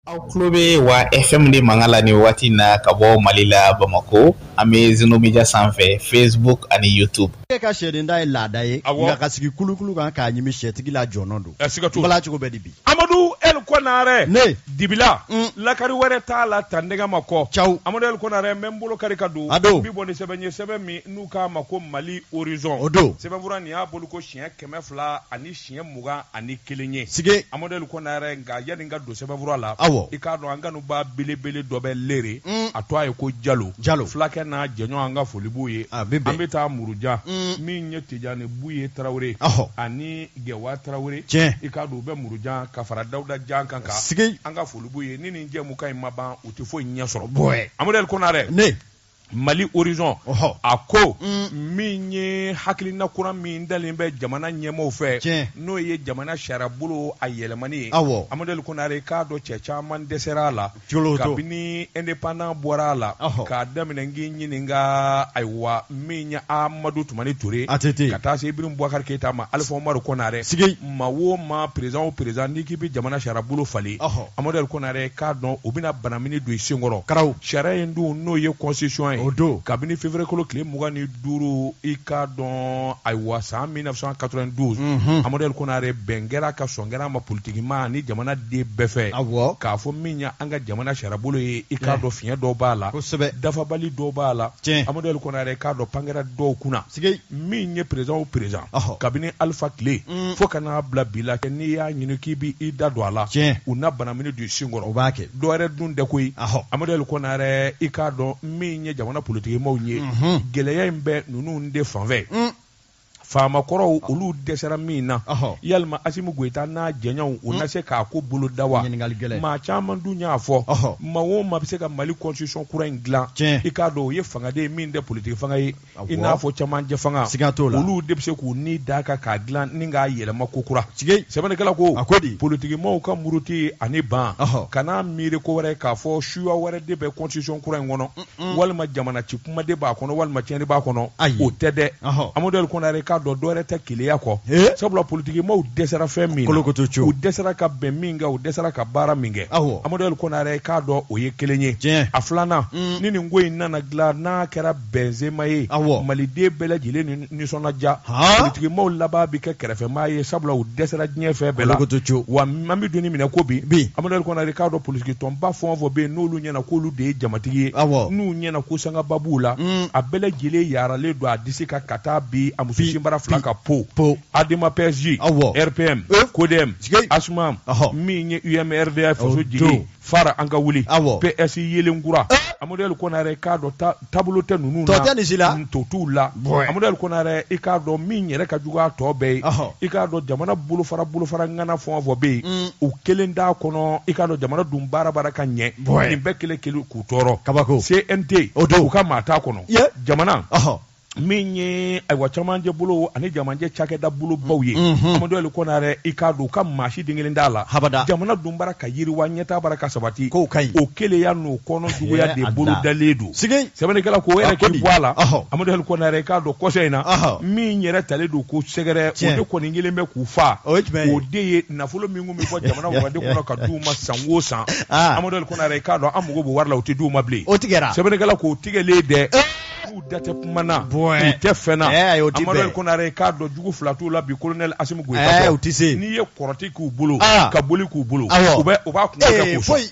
aw tulo bɛ wa fm de mankan la nin wagati na ka bɔ mali la bamakɔ an bɛ zenomedia sanfɛ facebook ani youtube e ka sɛden ta ye laada ye nka ka sigi kulukulu kan k'a ɲimi sɛtigi la jɔnɔn don bala cogo bɛ di bi amadu el kɔnarɛ ne dibila mm. lakari wɛrɛ t'a la ta nɛgɛ ma kɔ caw amadu el kɔnarɛ n bɛ n bolo kari ka don a don bi bɔ ni sɛbɛn ye sɛbɛn min n'u k'a ma ko mali horizon o don sɛbɛnfura nin y'a bolo ko siɲɛ kɛmɛ fila ani siɲɛ mugan ani kelen ye sige amadu el kɔnarɛ nka yanni n ka don sɛbɛnfura la aw i k'a dɔn an kanubaa belebele dɔ bɛ leere mm. a tɔgɔ ye ko jalo jalo fulakɛ n'a jɛɲɔgɔn an ka foli b'u ye an bɛ taa muruja mm. min ye tijani buye tarawele ani gɛwa tarawele tiɲɛ i k'a don u bɛ muruja ka fara dawuda janka kan sige an ka foli b'u ye ni nin jɛmukan in ma ban u tɛ foyi ɲɛ sɔrɔ bɔɛ amadu el kɔnarɛ ne mali horizon a ko mm. min ye hakilina kura min dalen bɛ jamana ɲɛmɔgɔw fɛ n'o ye jamana sariyabolo a yɛlɛmani ye amadu el konare k'a dɔn cɛ caman dɛsɛra a la kabini independant bɔra a la k'a daminɛ n k'i ɲininka ayiwa min ye amadu tumani ture ka taa se ibrahim bubakari keyita ma alifa umaru konare maa o maa perezan o perezan n'i k'i bɛ jamana sariyabolo falen amadu el konare k'a dɔn u bɛna banamini don i senkɔrɔ karaw sariya in dun n'o ye constitution ye o don kabini février kalo tile mugan ni duuru i k'a dɔn ayiwa san 1992 amadu el konare bɛn kɛra a kan sɔn kɛra a ma politikimaa ni jamana den bɛɛ fɛ awɔ k'a fɔ min ye an ka jamana sariyabolo ye i k'a dɔn fiɲɛ dɔw b'a la kosɛbɛ dafabali dɔw b'a la tiɲɛ amadu el konare k'a dɔn pan kɛra dɔw kunna min ye perezan o perezan kabini alifa tile mm. fo ka n'a bila bi la kɛ n'i y'a ɲini k'i bɛ i da don a la u na banamini don i senkɔrɔ u b'a kɛ dɔ wɛrɛ dun tɛ koyi amadu el konare i k'a dɔn min ye jamana politikimɔgɔw ye mhm. gɛlɛya in bɛ ninnu de fanfɛ mm. faamakɔrɔw ah. olu dɛsɛra min na yalima asimu goyita n'a jɛɲɔgɔnw u mm. na se k'a ko boloda wa maa caman dun y'a fɔ maa o maa bɛ se ka mali constitution kura in dilan i k'a dɔn o ye fanga de min tɛ politiki fanga ye i n'a fɔ cɛmancɛ fanga siga t'o la olu de bɛ se k'u ni da a kan k'a dilan ni k'a yɛlɛma ko kura sigi sɛbɛnnikɛla ko a ko di politikimɔgɔw ka muruti ani ban kana miiri ko wɛrɛ k'a fɔ suya wɛrɛ de bɛ constitution kura in kɔnɔ walima jamana ci kuma de b'a kɔnɔ walima tiɲɛni b'a kɔnɔ ayi o tɛ dɛ amadu el konare k'a dɔn dɔwɛrɛ tɛ keleya kɔ sabula politikimɔgɔw dɛsɛra fɛn min na u dɛsɛra ka bɛn min kɛ u dɛsɛra ka baara min kɛ amadu el konare k'a dɔn o ye kelen ye a filanan ni nin ko in nana dilan n'a kɛra bɛnzema ye maliden bɛɛ lajɛlen nisɔndiya politikimaw laban bɛ kɛ kɛrɛfɛmaa ye sabula u dɛsɛra diɲɛ fɛn bɛɛ la wa an bɛ don min na ko bi amadu ali kɔnare k'a dɔn politikitɔnba fɛn o fɛn bɛ yen n'olu ɲɛna k'olu de ye jamatigi ye n'u ɲɛna ko sangaba b'u la mm. a bɛɛ lajɛlen yaralen don a disi ka ka taa bi a muso sinbara fila ka po adema pɛsi rpm kodɛm asuma min ye umrda faso jigi fara an ka wuli Awɔ. PS yeelen kura Amadu Ali Konare k'a dɔn ta- taabolo tɛ ninnu na Tɔ tɛ nin si la. to t'u la Bɔn. Amadu Ali Konare i k'a dɔn min yɛrɛ ka jugu a tɔ bɛɛ ye Ɔhɔ. i k'a dɔn jamana bolofara bolofara ŋana fɛn o fɛn bɛ yen u kelen t'a kɔnɔ i k'a dɔn jamana dun baara bara ka ɲɛ Bɔn. nin bɛɛ kelen kelen k'u tɔɔrɔ Kabako. CNT O don. u ka maa t'a kɔnɔ Ye. jamana Ɔhɔ. min ye ayiwa cɛmancɛ bolo ani cɛmancɛ cakɛda bolo baw ye mhm. amadu ali kɔnare i k'a dɔn u ka maa si den kelen t'a la habada jamana dun bara ka yiriwa ɲɛtaa bara ka sabati k'o ka ɲi o keleya n'o kɔnɔ juguya de bolo dalen don sɛbɛnnikɛla k'o yɛrɛ k'i bɔ a la amadu ali kɔnare i k'a dɔn kɔsɛ in na min yɛrɛ talen don ko sɛgɛrɛ o de kɔni kelen bɛ k'u fa o de ye nafolo min kun bɛ bɔ jamana wagande kɔnɔ ka d'u ma san o san ah. amadu ali kɔnare i k'a dɔn a mago b'o wari la o tɛ d'u ma bilen sɛbɛnnikɛla k'o tigɛlen dɛ eh. k'u da tɛ kuma na Bɔɛ. k'u tɛ fɛn na Ɛɛ, ayi, o ti Amadu bɛn. Konare k'a dɔn jugu fila t'u la bi kolonɛli Asimu Goyita Ɛɛ, tɔ. u ti se. n'i ye kɔrɔti k'u bolo Aa. ka boli k'u bolo Awɔ. u bɛ u b'a kungo kɛ Ee, k'u sɔn foyi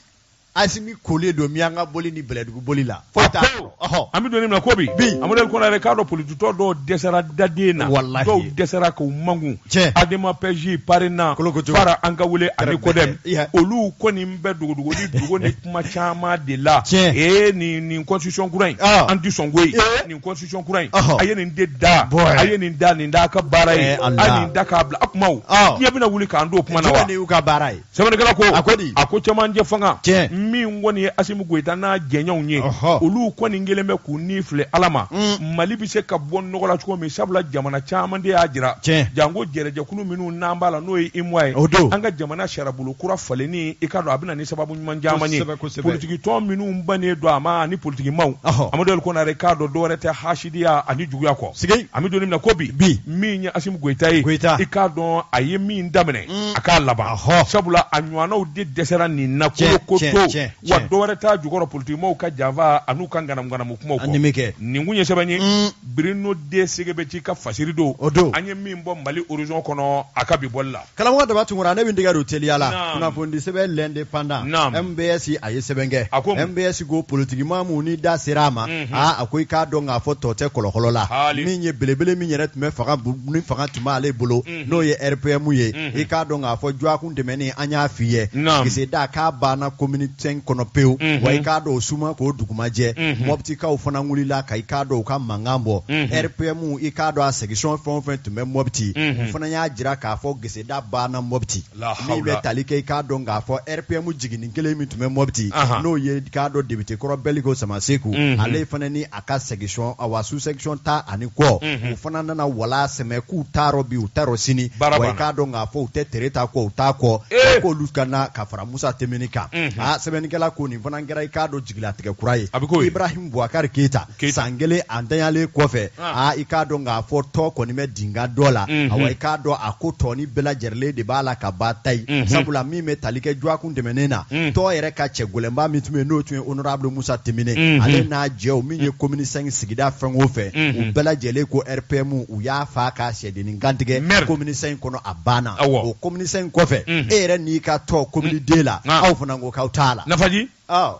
asimi kolen don minyanka boli ni bɛlɛdugu boli la foyi t'a Pewu. sɔrɔ. Ɔhɔ. an bɛ don min na ko bi Bi. Amadu Konare k'a dɔn politikitɔn dɔw dɛsɛra daden na Walahi. dɔw dɛsɛra k'u makun Tiɲɛ. Adema Pɛzi Parena Kolokoto. Fara An ka wuli ani Tɛrɛ- Kodɛm Iya. olu kɔni bɛ dogodogonin dogonin kuma caman de la ee nin nin constitution kura in an tɛ sɔn ko ye nin constitution kura in a ye nin de da a ye nin da nin da ka baara ye a nin da k'a bila a kumaw diɲɛ bɛna wuli k'an don o kuma na wa y'u ka baara ye sɛbɛnnikɛla ko a ko di a ko cɛmancɛ fanga min kɔni ye Asimu Goyita n'a jɛɲɔgɔnw ye olu kɔni kelen bɛ k'u ni filɛ Ala ma Mali bɛ se ka bɔ nɔgɔ la cogo min sabula jamana caman de y'a jira janko jɛrɛjɛkulu minnu n'an b'a la n'o ye UEMOA ye an ka jamana sariyabolo kura falenni i ka dɔn a bɛna sababu ɲuman caman ye Kosɛbɛ, kosɛbɛ. politikitɔn minnu bannen don a ma ani politikimaw Ɔhɔ. amadu ali kɔnare k'a dɔn dɔwɛrɛ tɛ hasidiya ani juguya kɔ Sigei. an bɛ don min na ko bi Bi. min ye asimu goyita ye Goyita. i k'a dɔn a ye min daminɛ a k'a laban Ahɔ. sabula a ɲɔgɔnnaw de dɛsɛra nin na Tiɲɛ, kolo ko tiɲɛ, to tiɲɛ, wa tiɲɛ. dɔwɛrɛ t'a jukɔrɔ politikimaw ka janfa an'u ka ŋanamuŋanamu kumaw An nim'i kɔ. nin kun ye sɛbɛn ye Mm. bruno d. segbedji ka fasiri don O don. an ye min bɔ mali horizon kɔnɔ a ka bi bɔli la karamɔgɔ daba tunkara ne bɛ dɛgɛ don teliya la kunnafonidi sɛbɛn l'indépendant mbs a ye sɛbɛn kɛ mbs ko politikimaa minnu ni da sera a ma mhm. aa a ko i k'a dɔn k'a fɔ tɔn tɛ kɔlɔkɔlɔ la min ye belebele min yɛrɛ tun bɛ fanga ni fanga tun b'ale bolo mhm. n'o ye rpm ye mhm. i k'a dɔn k'a fɔ jɔakun tɛmɛnen an y'a f'i ye geseda k'a banna commune cinq kɔnɔ pewu wa i k'a dɔn o su ma ko dugu ma jɛ mɔbitikaw fana wulila ka i k'a dɔn u ka mankan bɔ rpm i k'a dɔn a section fɛn o fɛn tun bɛ mɔbiti u fana y'a jira k'a fɔ geseda banna mɔbiti min bɛ tali kɛ k'a dɔn k'a fɔ rpm jiginin kelen min tun bɛ mɔbiti n'o ye k'a dɔn député kɔrɔ bɛliko samasegu ale fana ni a ka section a wa sous section tan ani kɔ u fana nana wala sɛmɛ k'u t'a rɔ bi u t'a rɔ sini k'a dɔn k'a fɔ u tɛ tereta kɔ u t'a kɔ k'olu ka ka fara musa timbine kan sɛbɛnnikɛla ko nin fana kɛra i k'a dɔn jigilatigɛ kura ye a bɛ ko ibrahim buwakari keyita san kelen a ntanyalen kɔfɛ ah. ah, i k'a dɔn k'a fɔ tɔn kɔni bɛ dinga dɔ la mhm. awa i k'a dɔn a ko tɔn in bɛɛ lajɛrɛlen de b'a la ka ba ta ye mhm. sabula min bɛ tali kɛ jɔakun tɛmɛnen na mhm. tɔn yɛrɛ ka cɛ gɛlɛnba min tun bɛ n'o tun ye honorable musa timbine ale n'a jɛw min ye commune cinq sigida fɛn o fɛn u bɛɛ lajɛlen ko rpm u y'a faa k'a sɛdennin kantigɛ commune cinq kɔnɔ a banna o commune cinq kɔfɛ e yɛrɛ n'i ka tɔn commune deux la aw fana ko k'aw t'a la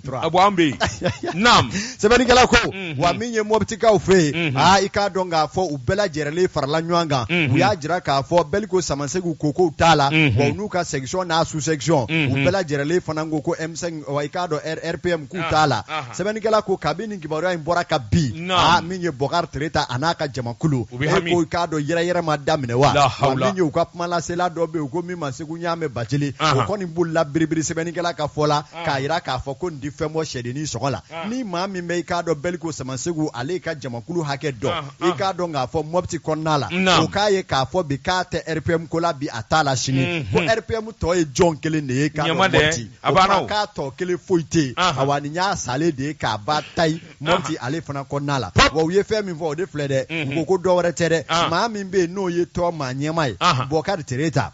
bɔ an bɛ yen naam sɛbɛnnikɛla ko mhm. wa min ye mɔbitikaw fɛ yen mhm. aa ah, i k'a dɔn k'a fɔ u bɛɛ lajɛrɛlen farala ɲɔgɔn kan mhm. u y'a jira k'a fɔ bɛliko samasegu ko k'u t'a la wa u n'u ka section n'a sous section u bɛɛ lajɛrɛlen fana ko ko m5 wa i k'a dɔn rpm k'u ah, t'a la ah, sɛbɛnnikɛla ko kabini nin kibaruya in bɔra ka bin aa min ye bɔkari tereta a n'a ka jamakulu e ko i k'a dɔn yɛrɛyɛrɛ ma daminɛ wa wa min ye u ka kumalasela dɔ bɛ yen u ko min ma segu ɲaamɛ bacili o kɔni bolila biribiri sɛbɛnnikɛla ka fɔ la ah. k'a jira k'a fɔ ko nin tɛ fɛn bɔ sɛdennin sɔgɔ la ah. ni maa min bɛ i k'a dɔn bɛliko samasegu ale ka jamakulu hakɛ dɔn ah, i k'a dɔn k'a fɔ mɔpti kɔnɔna la o k'a ye k'a fɔ bi k'a tɛ rpm ko la bi a t'a la sini mhm. ko rpm tɔ ye jɔn kelen de ye k'a dɔn mɔpti o kuma k'a tɔ kelen foyi tɛ yen awa nin y'a salen de ye k'a ba ta ye mɔpti ale fana kɔnɔna la wa u ye fɛn min fɔ o de filɛ dɛ mhm. u ko ko dɔ wɛrɛ tɛ dɛ maa min bɛ yen n'o ye tɔn maa ɲɛmaa ye bɔkari tereta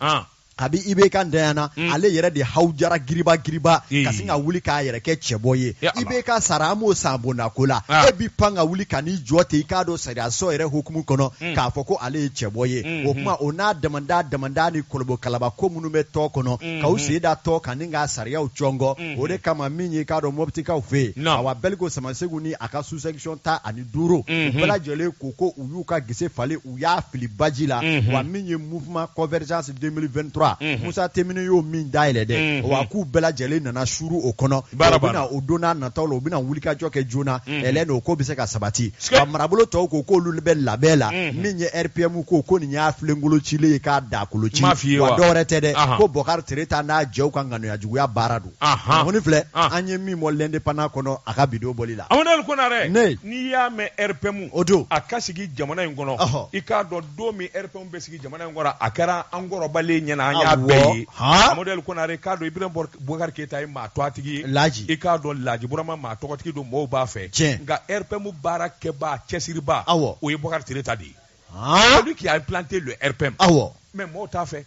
kabi ibk ntanyana mm. ale yɛrɛ de hawujara giriba giriba mm. ka sin ka wuli k'a yɛrɛ kɛ cɛbɔ ye ibk sara an m'o san bondako la ah. e b'i pan ka wuli ka n'i jɔ ten i k'a dɔn sariyaso yɛrɛ hukumu kɔnɔ mm. k'a fɔ ko ale ye cɛbɔ ye mm-hmm. o kuma o n'a damanda damanda ni kolobo kalaba ko minnu bɛ tɔn kɔnɔ mm-hmm. ka u sen da tɔn kan ni k'a sariyaw cɔngɔ mm-hmm. o de kama min ye k'a dɔn mɔbitikaw fɛ yen awa bɛliko samasegu ni a ka sous section tan ani duuru u bɛɛ lajɛlen ko ko u y'u ka gese falen u y'a fili baji la mhm. wa min ye mouvement convergence 2023 mhm. Musa Timbine y'o min dayɛlɛ dɛ mhm. wa k'u bɛɛ lajɛlen nana suru o kɔnɔ u bɛna o don n'a nataw la u bɛna wulikajɔ kɛ joona ɛlɛn o ko bɛ se ka sabati wa marabolo tɔw ko k'olu bɛ labɛn la min ye RPM ko ko nin y'a filenkolo cilen ye k'a dakolo ci wa dɔwɛrɛ tɛ dɛ ko Bɔkari Tereta n'a jɛw ka ŋaniyajuguya baara don kunnafoni filɛ an ye min bɔ l'indépendant kɔnɔ a ka bi don bɔli la amadu konare n'i y'a mɛn rpm o don a ka sigi jamana in kɔnɔ i k'a dɔn don min rpm bɛ sigi jamana in kɔnɔ a kɛra an kɔrɔbalen ɲɛna an y'a bɛɛ ye amadu konare k'a dɔn ibrahim bubakari keyita ye maa tɔgɔtigi ye laji i k'a dɔn laji burama maa tɔgɔtigi don mɔgɔw b'a fɛ cɛ nka rpm baara kɛba cɛsiriba awɔ o ye bɔkari tereta de ye celui qui a implanté le rpm awɔ mais mɔgɔw t'a fɛ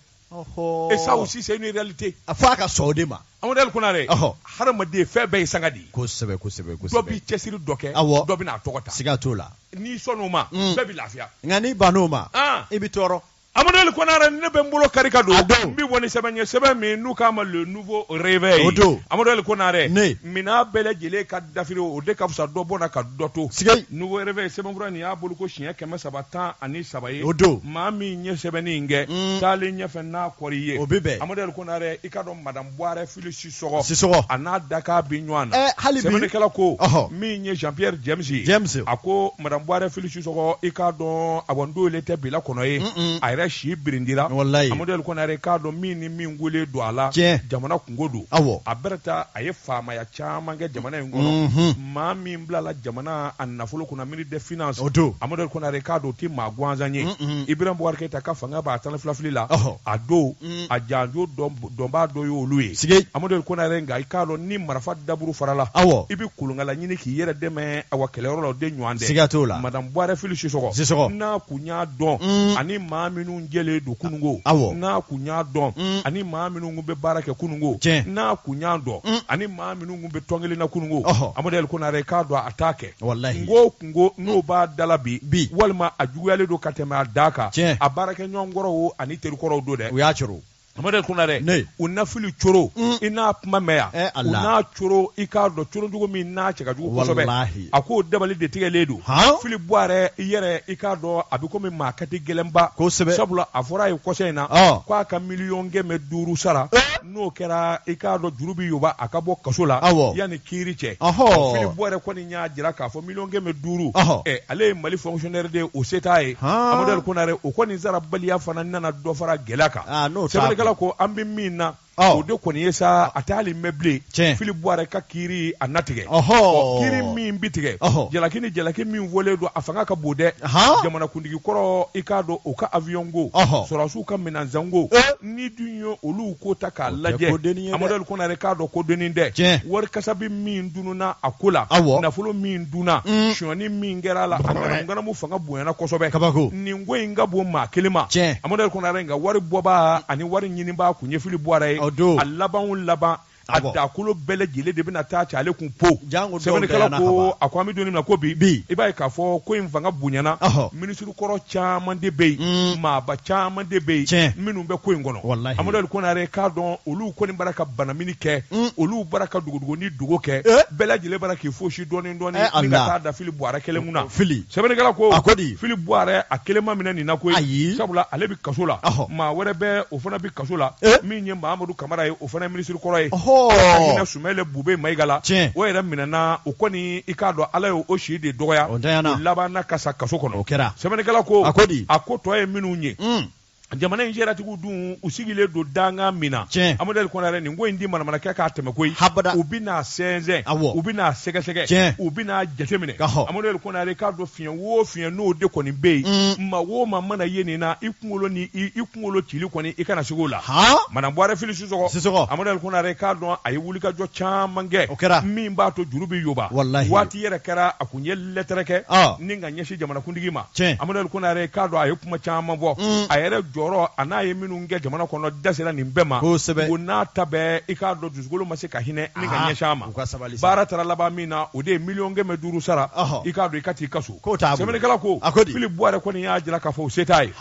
Et ça aussi c'est une réalité fo a ka sɔn o de ma amadu konare hadamaden fɛn bɛɛ ye sanga de ye kosɛbɛ dɔ bɛ cɛsiri dɔ kɛ awɔ dɔ bɛna tɔgɔ ta siga t'o la n'i sɔn' o ma mm. bɛɛ bɛ lafiya nka n'i bann'o ma i bɛ tɔɔrɔ amadu konare ne bɛ n bolo kari ka don a don n bɛ bɔ ni sɛbɛn ye sɛbɛn min n'u k'a ma le nouveau réveil o don amadu konare minɛn bɛɛ lajɛlen ka dafiri o de ka fisa dɔ bɔnna ka dɔ to nouveau réveil sɛbɛnkura nin y'a bɔli ko siɲɛ kɛmɛ saba tan ani saba ye o don maa min ye sɛbɛnni in kɛ mm. taalen ɲɛfɛ n'a kɔri ye o bɛ bɛn amadu konare i k'a dɔn madame buwarɛ fili sisɔgɔ sisɔgɔ a n'a dakan bi ɲɔgɔn na eh, hali bi sɛbɛnnikɛla ko min ye jean pierre james ye james a ko madame buwarɛ fili sisɔgɔ i k'a dɔn a bon don le tɛ bi la kɔnɔ ye a yɛrɛ si birindira walayi amadu konare i k'a dɔn min ni min wele don a la jamana kunko don awɔ a bɛrɛ ta a ye faamaya caman kɛ jamana in kɔnɔ mhm. maa min bilala jamana a nafolo kunna ministre des finances o don amadu konare k'a dɔn tɛ maa gansan ye ibrahim bubakari keyita ka fangaba tanfilafilila don mm. a janjo dɔnbaa dɔ y'olu ye sigi amadu konare nka i k'a dɔn ni marifa daburu farala awɔ i bɛ kolonkala ɲini k'i yɛrɛ dɛmɛ a wa kɛlɛyɔrɔ la o de ɲɔgɔn dɛ siga t'o la madame buwarɛ fili sisɔgɔ sisɔgɔ n'a kun y'a dɔn mm. ani maa minnu jɛlen don kunungo awɔ n'a kun y'a dɔn mm. ani maa minnu bɛ baara kɛ kunungo n'a kun y'a dɔn ani maa minnu kun bɛ tɔn kelen na kunungo Ɔhɔ. Amadu Konare k'a dɔn a t'a kɛ Walahi. n ko kunko n'o b'a da la bi Bi. walima a juguyalen don ka tɛmɛ a dan kan Tiɲɛ. a baarakɛɲɔgɔn kɔrɔw o ani teri kɔrɔw don dɛ u y'a coro Amadu Konare Ne. u na Fili coro Mm. i n'a kuma mɛn yan Eh, u Allah. n'a coro i k'a dɔn coro jugu min n'a cɛ ka jugu kosɛbɛ Walahi. a k'o dabali de tigɛlen don Han? Fili Buwarɛ yɛrɛ i k'a dɔn a bɛ komi maa katigɛlɛnba Kosɛbɛ. sabula a fɔra a ye kɔsa in na Ɔ. k'a ka miliyɔn kɛmɛ duuru sara Eh. n'o kɛra i k'a dɔn juru bɛ yoba a ka bɔ kaso la Awɔ. yanni kiiri cɛ Ɔhɔɔ. Fili Buwarɛ kɔni y'a jira k'a fɔ miliyɔn kɛmɛ duuru Ɔhɔ. Ɛ, ale ye Mali fonctionnaire de ye o se t'a ye Han. Amadu Ali Konare o kɔni sarabaliya fana nana dɔ fara gɛlɛya kan Ah, n'o t'a sɛbɛnnikɛla ko an bɛ min na Ɔ. o de kɔni ye sa a tɛ hali mɛn bilen Tiɲɛ. Fili Buwarɛ ka kiiri a na tigɛ Ɔhɔɔ. Ɔ, kiiri min bɛ tigɛ Ɔhɔ. jalaki ni jalaki min fɔlen don a fanga ka bon dɛ Han. jamanakuntigi kɔrɔ i k'a dɔn o ka avion ko Ɔhɔ. sɔrɔdasiw ka minɛnsanko Eh. n'i dun ye olu ko ta k'a lajɛ amadu ali konare k'a dɔn ko dennin tɛ wari kasabi min dunna a ko la nafolo min dunna mm. sonyani min kɛra a la ganamu fanga bonyana kosɛbɛ kabako nin ko in ka bon maa kelen ma amadu ali konare nka wari bɔbaa ani wari ɲinibaa kun ye fili buwarɛ ye a labanw laban a dakolo bɛɛ lajɛlen de bɛna taa ci ale kun po sɛbɛnnikɛla ko a ko an bɛ don min na ko bi bi i b'a ye k'a fɔ ko in fanga bonyana minisiri kɔrɔ caman de bɛ yen maaba caman de bɛ yen minnu bɛ ko in kɔnɔ amadu konare k'a dɔn olu kɔni bara ka banamini kɛ olu bara ka dogodogo ni dogo kɛ bɛɛ lajɛlen bara k'i fosi dɔɔni dɔɔni ni ka taa da fili buwarɛ kelen kun na fili sɛbɛnnikɛla ko a ko di fili buwarɛ a kelen ma minɛ nin na koyi sabula ale bɛ kaso la maa wɛrɛ bɛ o fana bɛ kaso la min ye mahamadu kamara ye o fana minisiri kɔrɔ ye ɔhɔɔ sumɛyilu bubɛyi mayiga la tiɲɛ o yɛrɛ minɛna o kɔni i k'a dɔn ala ye o si de dɔgɔya o ntanyana labanna ka sa kaso kɔnɔ o kɛra sɛbɛnnikɛla ko a ko di a ko tɔ ye minnu ye un jamana in sariyatigiw dun u sigilen don danga min na tiɲɛ amadu ali konare nin ko in di manamanakɛ k'a tɛmɛ koyi habada u bɛna sɛnsɛn awɔ u bɛna sɛgɛsɛgɛ tiɲɛ u bɛna jateminɛ ɔhɔ amadu ali konare k'a dɔn fiɲɛ wo fiɲɛ n'o de kɔni bɛ yen mm. maa wo maa mana ye nin na i kunkolo ni i kunkolo cili kɔni i kana siga o la madamu buwarɛ fili sisoko sisoko amadu konare k'a dɔn a ye wulikajɔ caman kɛ o kɛra min b'a to juru bɛ yoba walahi waati yɛrɛ kɛra a kun ye lɛtɛrɛ kɛ ah. ni ka ɲɛsin jamanakuntigi ma tiɲɛ amadu konare k'a dɔn a ye kuma caman fɔ mm. a yɛrɛ jɔyɔrɔ an'a ye minnu kɛ jamana kɔnɔ da sera nin bɛɛ ma kosɛbɛ o n'a ta bɛɛ i k'a dɔn dusukolo ma se ka hinɛ ni ka ah. ɲɛsin a ma baara taara laban min na o de ye miliyɔn kɛmɛ duuru sara i k'a dɔn i ka t'i ka so sɛbɛnnikɛla ko fili buwarɛ kɔni y'a jira k'a fɔ o se t'a ye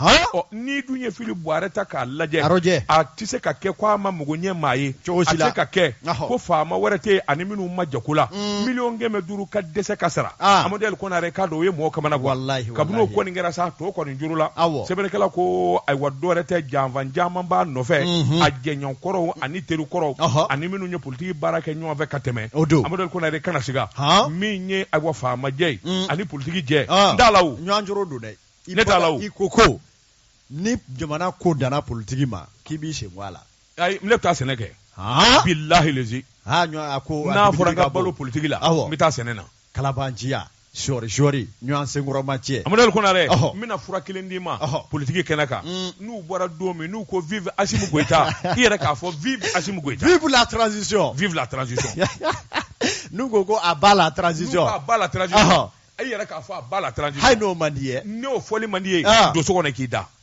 n'i dun ye fili buwarɛ ta k'a lajɛ a tɛ se ka kɛ ko a ma mago ɲɛ maa ye a tɛ se ka kɛ ko faama wɛrɛ tɛ yen ani minnu ma jako la mm. miliyɔn kɛmɛ duuru ka dɛsɛ ka sara ah. amadu konare k'a dɔn o ye mɔgɔ kamanagan kabini o kɔni kɛra sa tɔ kɔni juru la sɛbɛnnikɛla ko ayiwa dɔwɛrɛ tɛ janfan caman b'a nɔfɛ mm-hmm. a jɛɲɔgɔn kɔrɔw ani teri kɔrɔw ani minnu ye politigi baara kɛ ɲɔgɔn fɛ ka tɛmɛ o don amadu konare kana siga min ye awa faamajɛ ye mm. ani politigi jɛ ah. n da la ɲɔgɔnjoro don dɛ ne t'a la i ko ko ni jamana ko danna politigi ma k'i b'i sen bɔ a la ayi ne bɛ taa sɛnɛ kɛ bilahi lezi n'a fɔra n ka balo politigi la n bɛ taa sɛnɛ na kalabanciya sɔri sɔri ɲɔgɔn senkɔrɔma cɛ amadali konare Ɔhɔ. n bɛna fura kelen d'i ma Ɔhɔ. politiki kɛnɛ kan Mm. n'u bɔra don min n'u ko vive asimi goyita i yɛrɛ k'a fɔ vive asimi goyita vive la transition vive la transition n'u ko ko à bas la transition Ɔhɔ. i yɛrɛ k'a fɔ à bas la transition hali n'o man di ye n'o fɔli man di ye Ah. don so kɔnɔ k'i da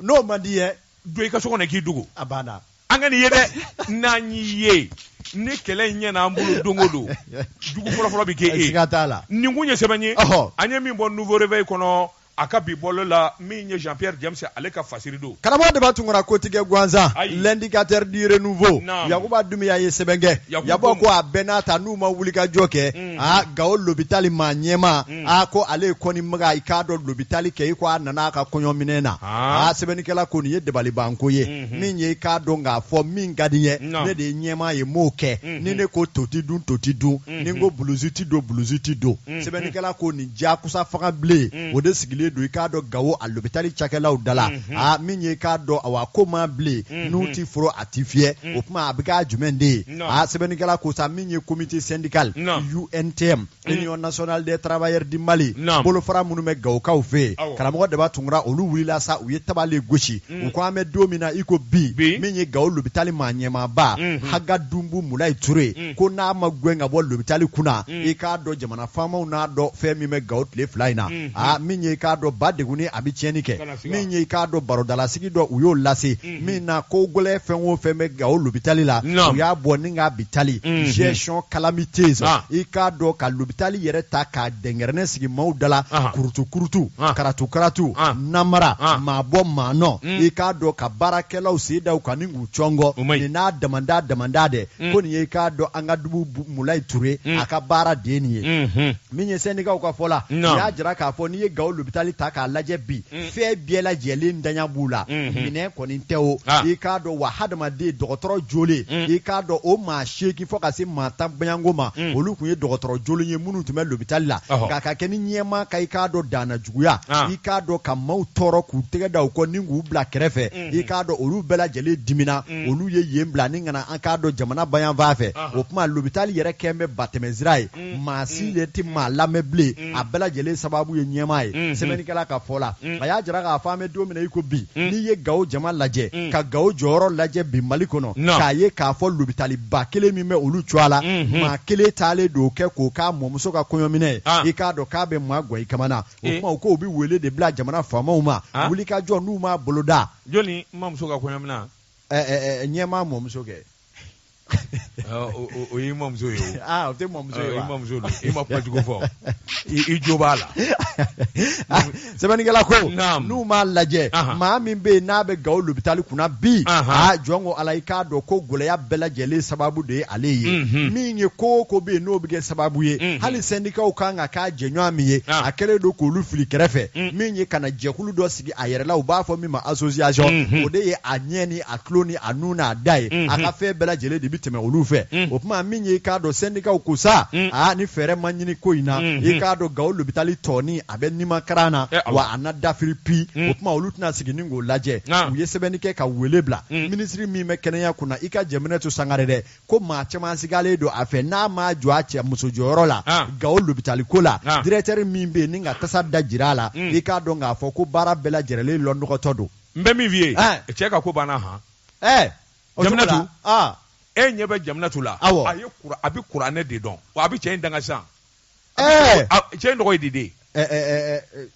n'o man di ye don i ka so kɔnɔ k'i dogo a banna an kan'i ye dɛ n'an y'i ye ni kɛlɛ in ɲɛna an bolo don o don jugu fɔlɔfɔlɔ bɛ kɛ e ye siga t'a la nin kun ye sɛbɛn ye Ɔhɔ. an ye min bɔ nouveau réveil kɔnɔ a ka bi bɔlɔ la min ye jean pierre james ale ka fasiri don karamɔgɔ daba tunkara kotigɛ gansan Ayi. l'indicateur du renouveau Naam. yakuba dumiya ye sɛbɛn kɛ y'a bɔ ko a bɛɛ n'a ta n'u ma wulikajɔ kɛ Mhm. a gawo lobitali maa ɲɛmaa Hmm. aa ko ale ye kɔni maga i k'a dɔn lobitali kɛ i ko a nana ka kɔɲɔminɛn na Ah. aa sɛbɛnnikɛla ko nin ye dabalibanko ye Mhm. min ye i k'a dɔn k'a fɔ min ka di n ye Non. ne de ye ɲɛmaa ye n b'o kɛ Mhm. ni ne ko to ti dun to ti dun Mhm. ni n ko bulusi ti don bulusi ti don Mhm. sɛbɛnnikɛla ko nin diyakusa fanga bilen Mhm. o de sigilen don i k'a dɔn gawo a lobitali cakɛlaw da la Mhm. aa min ye i k'a dɔn awa ko ma bilen Mhm. n'u ti foro a ti fiyɛ Mhm. o tuma a bɛ k'a jumɛn de ye Non. aa sɛbɛnnikɛla ko sa min ye comité syndical Non. untm Mm. Union nationale des travailleurs du Mali bolofara minnu bɛ Gawokaw fɛ yen karamɔgɔ Daba Tunkara olu wulila sa u ye tabale gosi mm. u ko an bɛ don min na i ko bi min ye Gawo lopitali maa ɲɛmaaba mm-hmm. Haga Dunbu Mulayi Ture mm. ko n'a ma gɛn ka bɔ lopitali kunna i k'a dɔn jamana faamaw n'a dɔn fɛn min bɛ Gawo tile fila in na mm-hmm. aa min ye i k'a dɔn ba degunnen a bɛ tiɲɛni kɛ min ye i k'a dɔn barodalasigi dɔ u y'o lase min na ko gɛlɛ fɛn o fɛn bɛ gawo lobitali la Non. u y'a bɔ ni k'a bitali Mhm. gestion calamiteuse Ah. i k'a dɔn ka lobitali yɛrɛ ta k'a dɛngɛrɛnɛ sigi maaw da la Ah. kurutu kurutu Ah. karatu karatu Ah. namara Ah. maa bɔ maa nɔ Mm. i k'a dɔn ka baarakɛlaw sen da u kan ni k'u cɔngɔ O man ɲi. nin n'a damanda damanda dɛ Mm. ko nin ye i k'a dɔn haga dunbu mulayi ture Mm. a ka baara de ye nin ye Mhm. min ye sɛndikaw ka fɔ la u y'a jira k'a fɔ n'i ye gawo lopitali ta k'a lajɛ bi mm. fɛn bɛɛ lajɛlen ntanya b'u la mm-hmm. minɛn kɔni tɛ o ah. i k'a dɔn wa hadamaden dɔgɔtɔrɔ jɔlen mm. i k'a dɔn o maa seegin fo ka se maa tan bayanko ma mm. olu tun ye dɔgɔtɔrɔ jɔlen ye minnu tun bɛ lopitali la nka ka kɛ ni ɲɛmaa ka i k'a dɔn danna juguya ah. i k'a dɔn ka maaw tɔɔrɔ k'u tɛgɛ da u kɔ ni k'u bila kɛrɛfɛ mm-hmm. i k'a dɔn olu bɛɛ lajɛlen dimina olu ye yen bila ni ka na an k'a dɔn jamana ba yanfan fɛ ah. o tuma lopitali yɛrɛ kɛn bɛ batɛmɛsira ye mm, maa si mm, de tɛ mm. maa lamɛn bilen a bɛɛ lajɛlen sababu ye ɲɛmaa ye mm-hmm. sɛbɛnnikɛla ka fɔ la a y'a jira k'a fɔ an bɛ don min na i ko bi n'i ye gawo jama lajɛ ka gawo jɔyɔrɔ lajɛ bi mali kɔnɔ k'a ye k'a fɔ lobitaliba kelen min bɛ olu cɔ a la mm-hmm. maa kelen taalen don kɛ k'o k'a mɔmuso ka kɔɲɔminɛ ye ah. i k'a dɔn k'a bɛ maa gan i kamana o eh. tuma u k'o bɛ wele de bila jamana faamaw ma ah. wulikajɔ n'u m'a boloda jɔni mamuso ka kɔɲɔminɛ ɲɛmaa mɔmuso kɛ o y'i mamuso ye o ah, o tɛ mamuso ye wa i mamuso don i ma kuma jugu fɔ i jo b'a la ah, sɛbɛnnikɛla ko n'u m'a lajɛ maa min bɛ yen n'a bɛ gawo lopitali kunna bi a ah, jɔn ko ala i k'a dɔn ko gɛlɛya bɛɛ lajɛlen sababu de ye ale ye mhm. min ye ko o ko bɛ yen n'o bɛ kɛ sababu ye mhm. hali sɛndikaw kan ka k'a jɛɲɔgɔn min ye a kɛlen don k'olu fili kɛrɛfɛ mhm. min ye ka na jɛkulu dɔ sigi a yɛrɛla u b'a fɔ min ma association o de ye a ɲɛ ni a tulo ni a nu n'a da ye a ka fɛn bɛɛ lajɛlen de bɛ tɛmɛ olu fɛ o tuma min ye i k'a dɔn sɛndikaw ko sa aa ni fɛɛrɛ ma ɲini ko in na i k'a dɔn gawo lopitali tɔɔni a bɛ nimakaran na wa a na dafiri pi o tuma olu tɛna sigi ni k'o lajɛ u ye sɛbɛnni kɛ ka wele bila minisiri min bɛ kɛnɛya kunna i ka jaminatu sangare dɛ ko maa caman sigalen don a fɛ n'a ma jɔ a cɛ muso jɔyɔrɔ la ah. gawo lopitali ko la ah. directeur min bɛ yen ni ka taasira da jira a la hmm. i k'a dɔn k'a fɔ ko baara bɛɛ lajɛrɛlen lɔnɔgɔtɔ don n bɛ min f'i ye eh. cɛ ka ko banna han ɛɛ eh. jaminatu ah. e ɲɛ bɛ jaminatu la awɔ a ye kura a bɛ kuranɛ de dɔn wa a bɛ cɛ in danga sisan ɛɛ eh. cɛ in tɔgɔ ye di de ɛɛ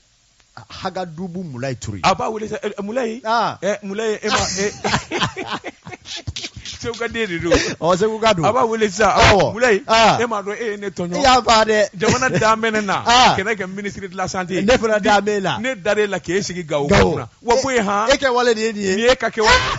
hagadubu mulayi ture a b'a wele mulayi mulayi e ma segu ka den de don ɔ seguka don a b'a wele sisan awɔ mulayi e m'a dɔn e ye ne tɔɲɔ i y'a fa dɛ jamana dan bɛ ne na ka ne kɛ minisiri de la santé ne fana dan b'e la ne dar'e la k'e sigi gawo kunna wa ko ye han e kɛwale de ye nin ye nin y'e ka kɛwale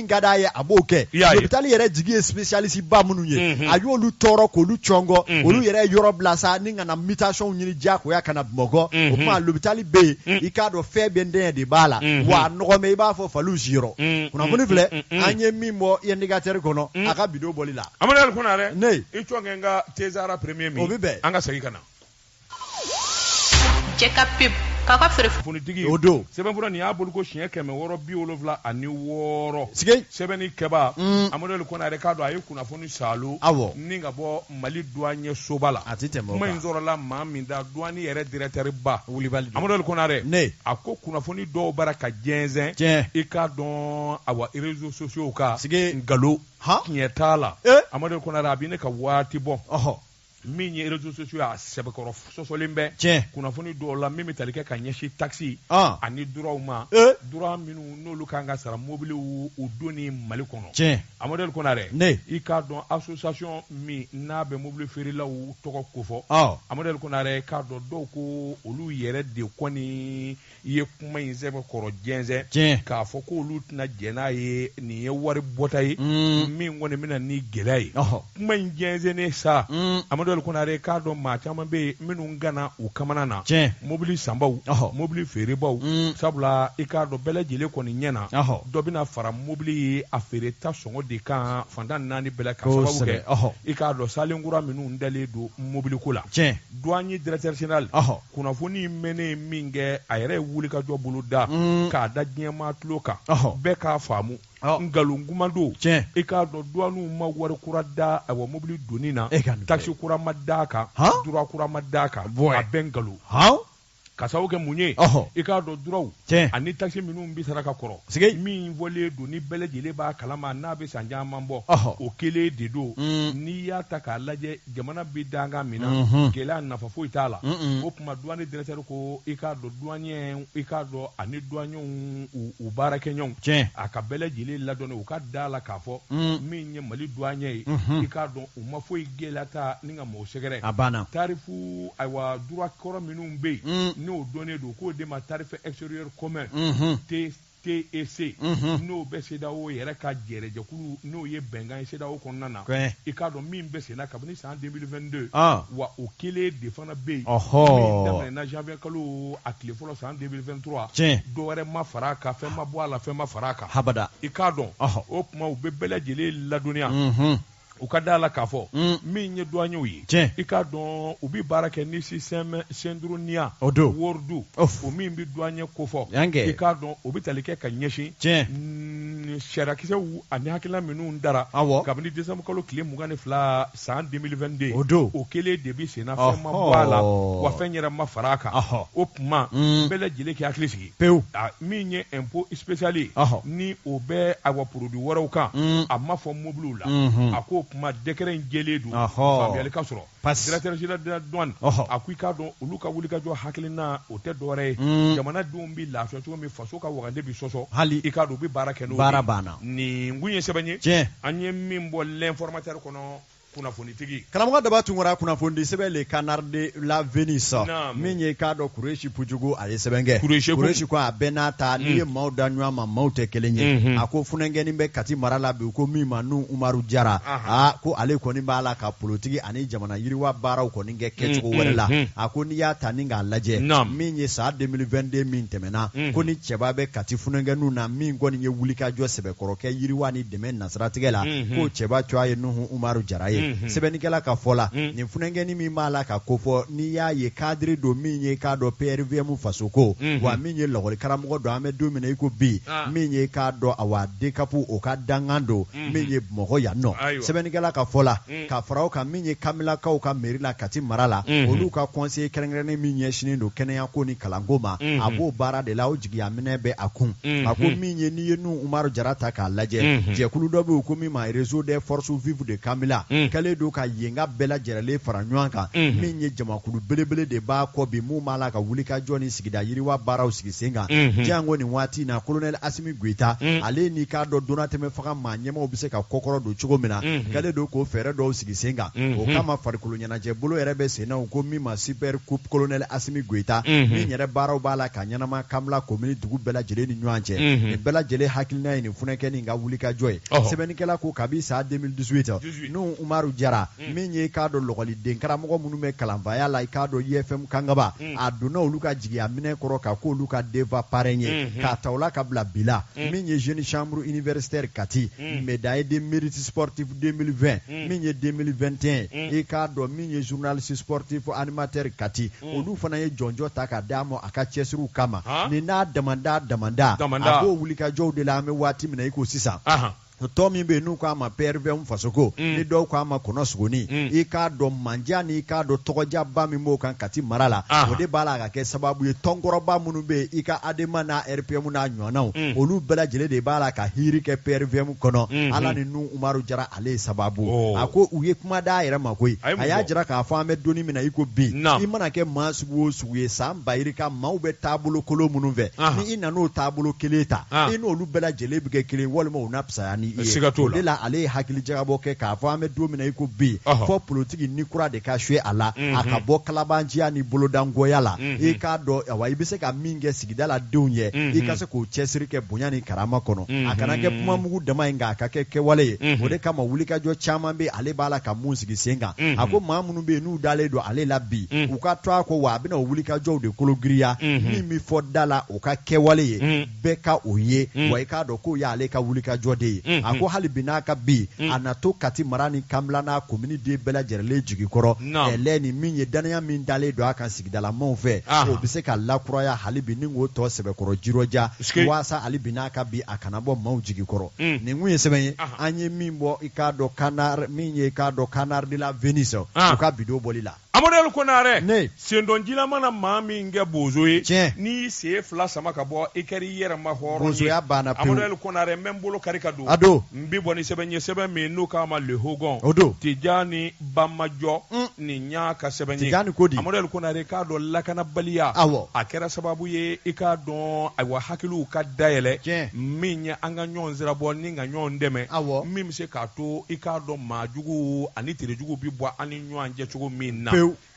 min ka d'a ye a b'o kɛ I y'a ye. lopitali yɛrɛ jigi ye spécialiste ba minnu ye Mhm. a y'olu tɔɔrɔ k'olu cɔngɔ Mhm. olu yɛrɛ ye yɔrɔ bila sa ni ka na mutation ɲini diyagoya ka na bamakɔ o Mhm. tuma lopitali bɛ yen Mm. i k'a dɔn fɛn bɛɛ dɛsɛ de b'a la Mhm. wa a nɔgɔ mɛ i b'a fɔ faliw siyɔrɔ Mm, kunnafoni mm, filɛ mm, mm, mm. an ye min bɔ indicateur kɔnɔ Mm. a ka bi don bɔli la amadu ali konare Ne. i cɔn kɛ n ka tezara premier min O bɛ bɛn. an ka segin ka na cɛ ka pep k'a ka feere funitigi o don sɛbɛnfura nin y'a bolo ko siɲɛ kɛmɛ wɔɔrɔ bi wolonfila ani wɔɔrɔ sige sɛbɛnnikɛba mm. amadu ali konare k'a dɔn a ye kunnafoni salo awɔ ni ka bɔ mali duwanye soba la a tɛ tɛmɛ kuma in sɔrɔla maa min da duwani yɛrɛ directeur ba wulibali amadu ali konare ne a ko kunnafoni dɔw bara ka jɛnsɛn tiɲɛ i k'a dɔn awa réseaux sociaux kan sige nkalon tiɲɛ t'a la eh? amadu ali konare a bɛ ne ka waati bɔ min ye réseaux sociaux y'a sɛbɛkɔrɔ sɔsɔlen bɛ tiɲɛ kunnafoni dɔw la min bɛ tali kɛ ka ɲɛsin taxes ani droits ma eh. droits minnu n'olu kan ka sara mobiliw donni Mali kɔnɔ tiɲɛ Amadu Konare ne i k'a dɔn association min n'a bɛ mobili feerelaw tɔgɔ kofɔ Amadu Konare k'a dɔn dɔw ko olu yɛrɛ de kɔni i ye kuma in sɛbɛkɔrɔ jɛnsɛn tiɲɛ k'a fɔ k'olu tɛna jɛn n'a ye nin ye wari bɔta ye mm. min kɔni bɛna ni gɛlɛya ye kuma in jɛnsɛnnen sa mm. amadu ali konare k'a dɔn maa caman bɛ yen minnu gana u kamana na tiɲɛ mobili sanbaw mobili feerebaw mm. sabula i k'a dɔn bɛɛ lajɛlen kɔni ɲɛ na dɔ bɛna fara mobili ye a feereta sɔngɔ de kan fan tan ni naani bɛɛ la ka sababu kɛ i k'a dɔn saalen kura minnu dalen don mobiliko la tiɲɛ duwani directeur général kunnafoni in mɛnnen min kɛ a yɛrɛ ye wulikajɔ boloda mm. k'a da diɲɛmaa tulo kan bɛɛ k'a faamu nkalon kuma don i k'a dɔn duwaniw ma wari kura da a wa mobili donni na e takisi kura ma da a kan droit kura ma da a kan a bɛɛ nkalon ka sababu kɛ mun ye i k'a dɔn droitw ani takisi minnu bɛ sara ka kɔrɔ min fɔlen don ni bɛɛ lajɛlen b'a kalama n'a bɛ san caman bɔ o kelen de don mm. n'i y'a ta k'a lajɛ jamana bɛ dankan min na mhm. gɛlɛya nafa foyi t'a la o tuma duwani directeur ko i k'a dɔn duwanyɛ i k'a dɔn ani duwanyɛw u baarakɛɲɔgɔn tiɲɛ a ka bɛɛ lajɛlen ladɔnni u ka da a la k'a fɔ mm. min ye mali duwanyɛ ye mhm. i k'a dɔn u ma foyi gɛlɛya ta ni ka mɔgɔ sɛgɛrɛ a banna tarifu ayiwa droit kɔrɔ minnu bɛ yen mm. n'o dɔnnen don k'o de ma tarif extérieur commun mhm. te TEC unhun, n'o bɛ CEDEAO yɛrɛ ka jɛrɛjɛkulu n'o ye bɛnkan ye CEDEAO kɔnɔna na, Kɔɛ. i k'a dɔn min bɛ senna kabini san 2022, ɔn, wa o kelen de fana bɛ yen, ɔhɔ, min daminɛna janvier kalo a tile fɔlɔ san 2023, tiɲɛ, dɔ wɛrɛ ma fara a kan, fɛn ma bɔ a la, fɛn ma fara a kan, habada, i k'a dɔn, ɔhɔ, o tuma u bɛ bɛɛ lajɛlen ladɔnniya, unhun. u ka da a la k'a fɔ mm. min ye duwanyɛw ye i k'a dɔn u bɛ baara kɛ ni système SYDONIA World o min bɛ duwanyɛ kofɔ i k'a dɔn o bɛ tali kɛ ka ɲɛsin mm, sariyakisɛw ani hakilina minnu dara kabini desanburu kalo tile mugan ni fila san 2022 o don o kelen de bɛ senna fɛn ma bɔ a la wa fɛn yɛrɛ ma fara a kan o tuma mm. bɛɛ lajɛlen k'i hakili sigi pewu min ye impôt spécial ye ni o bɛ a wa produit wɛrɛw kan mm. a ma fɔ mobiliw la mm-hmm. a ko kuma décret in jɛlen don faamuyali ka sɔrɔ directeur général de la douane a ko i k'a dɔn olu ka wuli wulikajɔ hakilina o tɛ dɔwɛrɛ ye mm. jamanadenw bɛ lafiya cogo min faso ka wagande bɛ sɔsɔ hali i k'a dɔn u bɛ baara kɛ n'o baara banna nin kun ye sɛbɛn ye an ye min bɔ l'informateur kɔnɔ kunnafonitigi karamɔgɔ daba tunkara kunnafonidi sɛbɛn le canard de la venise min ye k'a dɔn kuresi pujugu a ye sɛbɛn kɛ kuresi ko a bɛɛ n'a ta n'i ye mm. maaw da ɲɔgɔn ma maaw tɛ kelen ye mm-hmm. a ko funɛnkɛnin bɛ kati mara la bi ko min ma nuhun umaru jara a ko ale kɔni b'a la ka politiki ani jamana yiriwa baaraw kɔni kɛ kɛcogo mm-hmm. wɛrɛ la mm-hmm. a ko n'i y'a ta ni k'a lajɛ min ye san 2022 min tɛmɛna ko ni cɛba bɛ kati funɛnkɛninw na min kɔni ye wulikajɔ sɛbɛkɔrɔ kɛ yiriwa ni dɛmɛ siratigɛ la mm -hmm. ko cɛba coya ye nuhu umaru jara ye mm -hmm. sɛbɛnnikɛla ka fɔ la mm -hmm. nin funankɛni min b'a la ka kofɔ n'i y'a ye cadre don min ye k'a dɔn prvm fasoko mm -hmm. wa min ye lɔgɔli karamɔgɔ don an bɛ don min na i ko bi ah. min ye k'a dɔn awa dcap o ka dankan don mm -hmm. min ye bamakɔ yan nɔ sɛbɛnnikɛla ka fɔ la Mm. ka fara o kan min ye kanbilakaw ka meri la kati mara la Mhm. olu ka conseiller kɛrɛnkɛrɛnnen min ɲɛsinen don kɛnɛyako ni kalanko ma Mhm. a b'o baara de la o jigiya minɛ bɛ a kun Mhm. a ko min ye n'i ye nuhu umaru jara ta k'a lajɛ Mhm. jɛkulu dɔ bɛ yen ko min ma réseau des forces vives de kanbila Mhm. k'ale don ka yenka bɛɛ lajɛrɛlen fara ɲɔgɔn kan Mhm. min ye jamakulu belebele de b'a kɔ bi min b'a la ka wulikajɔ ni sigida yiriwa baaraw sigi sen kan Unhun. janko nin waati in na kolonɛli asimi goyita Mm. ale n'i k'a dɔn donnatɛmɛ fanga maa ɲɛmaaw bɛ se ka kɔkɔrɔ don cogo min na Mhm. k'ale don k'o fɛɛrɛ dɔw sigi sen kan Mhm. o kama farikolo ɲɛnajɛ bolo yɛrɛ bɛ sen na u ko min ma super coupe kolonɛli asimi goyita Mhm. min yɛrɛ baaraw b'a la ka ɲɛnama kanbila komini dugu bɛɛ lajɛlen ni ɲɔgɔn cɛ Mhm. nin bɛɛ lajɛlen hakilina ye nin funankɛni in ka wulikajɔ ye Ɔhɔ. sɛbɛnnikɛla ko kabi san 2018 nuhu umaru jara Mm. min ye i k'a dɔn lɔgɔliden karamɔgɔ minnu bɛ kalanfaya la i k'a dɔn ifm kangaba mm. a donna olu ka jigiya minɛ kɔrɔ ka ko olu ka denfa parrain ye mm-hmm. k'a ta o la ka bila bila mm. min ye jeune chambre universitaire kati médaille de mérite sportif 2020 min ye 2021 i k'a dɔn min ye journaliste sportif animateur kati olu fana ye jɔnjɔn ta ka d'a ma a ka cɛsiriw kama nin n'a damanda damanda a b'o wulikajɔw de la an bɛ waati min na i ko sisan tɔn min bɛ yen n'u k'a ma PRVM fasoko mm. ni dɔw k'a ma kɔnɔsogoni mm. i k'a dɔn mandiya ni i k'a dɔn tɔgɔdiyaba min b'o kan Kati mara la ah. o de b'a la ka kɛ sababu ye tɔnkɔrɔba minnu bɛ yen i k'ADEMA n'a RPM n'a ɲɔgɔnnaw mm. olu bɛɛ lajɛlen de b'a la ka hiiri kɛ PRVM kɔnɔ mm-hmm. Ala ni Nuhu Umaru Jara ale ye sababu oh. a ko u ye kuma d'a yɛrɛ ma koyi a y'a jira k'a fɔ an bɛ don ni min na i ko bi i mana kɛ maa sugu o sugu u ye san bayirika maaw bɛ taabolo kolon minnu fɛ Aha. ni i nan'o taabolo kelen ta Ah. i n'olu bɛɛ lajɛlen bɛ kɛ kelen walima u na fisaya ni i ye Siga t'o la. o de la ale ye hakili jagabɔ kɛ k'a fɔ an bɛ don min na i ko bi Ɔhɔ. fɔ politiki ni kura de ka suye a la a ka bɔ kalabanciya ni bolodangoya la i k'a dɔn awa i bɛ se ka min kɛ sigidaladenw ye i ka se k'o cɛsiri kɛ bonya ni karama kɔnɔ a kana kɛ kuma mugu dama ye nka a ka kɛ kɛwale ye o de kama wulikajɔ caman bɛ ale b'a la ka min sigi sen kan a ko maa minnu minnu bɛ yen n'u dalen don ale la bi u ka to a kɔ wa a bɛna o wulikajɔw de kologiriya min bɛ fɔ da la o ka kɛwale ye bɛɛ ka o ye wa i k'a dɔn k'o y'ale ka wulikajɔ de ye a ko hali bi n'a ka bi a na to kati mara ni kanbila n'a komini den bɛɛ lajɛrɛlen jigi kɔrɔ ɛlɛɛ ni min ye dannaya min dalen don a kan sigi dalamaw fɛ o bɛ se ka lakuraya hali bi ni k'o tɔ sɛbɛkɔrɔ jirɔja waasa hali bi n'a ka bi a kana bɔ maaw jigi kɔrɔ mm. nin kun ye sɛbɛn ye an ye min bɔ i k'a dɔn canard min ye i k'a dɔn canard de la venise u ka bi don bɔli la amadu konare ne sendonjila mana maa min kɛ bozo ye tiɲɛ n'i y'i sen fila sama ka bɔ i kɛra i yɛrɛ ma hɔrɔn ye bozoya banna pewu amadu konare n bɛ n bolo kari ka don a don n bɛ bɔ ni sɛbɛn ye sɛbɛn min n'o k'a ma le hogon o don tijani bamajɔ nin y'a ka sɛbɛn ye amadu konare k'a dɔn lakanabaliya a kɛra sababu ye i k'a dɔn ayiwa hakiliw ka dayɛlɛ min ye an ka ɲɔgɔn sira bɔ ni ka ɲɔgɔn dɛmɛ min bɛ se k'a to i k'a dɔn maajugu ani terejugu bɛ bɔ an ni ɲɔgɔn cɛ cogo min na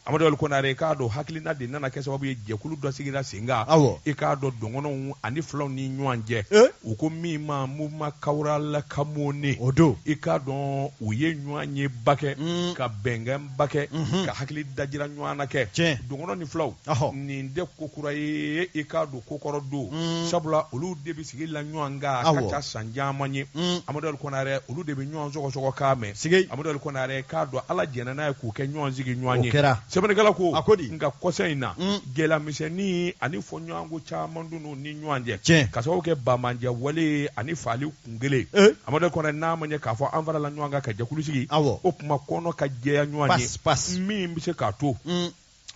amadu konare k'a dɔn hakilina de nana kɛ sababu ye jɛkulu dɔ sigira kan i k'a dɔn dɔgɔnɔw ani fulaw ni ɲɔgɔn cɛ u ko min ma mouvement kawurala kamone o don i k'a dɔn u ye ɲɔgɔn ye ba kɛ ka bɛnkɛ ba kɛ ka hakili dajira ɲɔgɔn na kɛ dɔgɔnɔ ni fulaw nin tɛ ko kura ye i k'a dɔn ko kɔrɔ don sabula olu de bɛ sigi la ɲɔgɔn kan a ka ca san caman ye amadu konare olu de bɛ ɲɔgɔn sɔgɔsɔgɔ kan mɛn sigi amadu konare k'a dɔn ala jɛnna n'a ye k'u kɛ ɲɔgɔn sigiɲɔgɔn ye kɛra sɛbɛnnikɛla ko a ko di n nka kɔsa in na gɛlɛyamisɛnnin ani fɔɲɔgɔnko caman don u ni ɲɔgɔn cɛ tiɲɛ ka sababu kɛ bamanjɛ wale ani faali kun kelen eh? amadu konare n'a ma ɲɛ k'a fɔ an farala ɲɔgɔn kan ka jɛkulu sigi awɔ o kuma kɔnɔ ka jɛya ɲɔgɔn ye min bɛ se k'a to mm.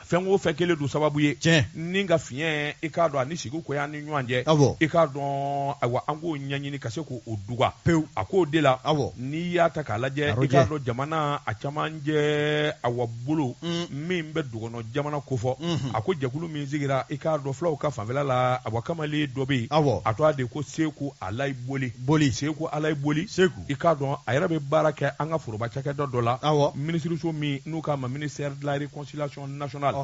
fɛn o fɛn kɛlen don sababu ye tiɲɛ ni ka fiɲɛ i k'a dɔn ani sigi ko y'an ni ɲɔgɔn cɛ awɔ i k'a dɔn ayiwa an k'o ɲɛɲini ka se k'o duga pewu a k'o de la awɔ n'i y'a ta k'a lajɛ i k'a dɔn jamana cɛmancɛ awa bolo min bɛ dɔgɔnɔ jamana kofɔ a ko jɛkulu min sigira i k'a dɔn fulaw ka fanfɛla la awa kamalen dɔ bɛ yen a tɔgɔ de ko seku alayi boli boli seku alayi boli seku i k'a dɔn a yɛrɛ bɛ baara kɛ an ka foroba cakɛda dɔ la minisiriso min n'u k'a ma ministère de la réconciliation nationale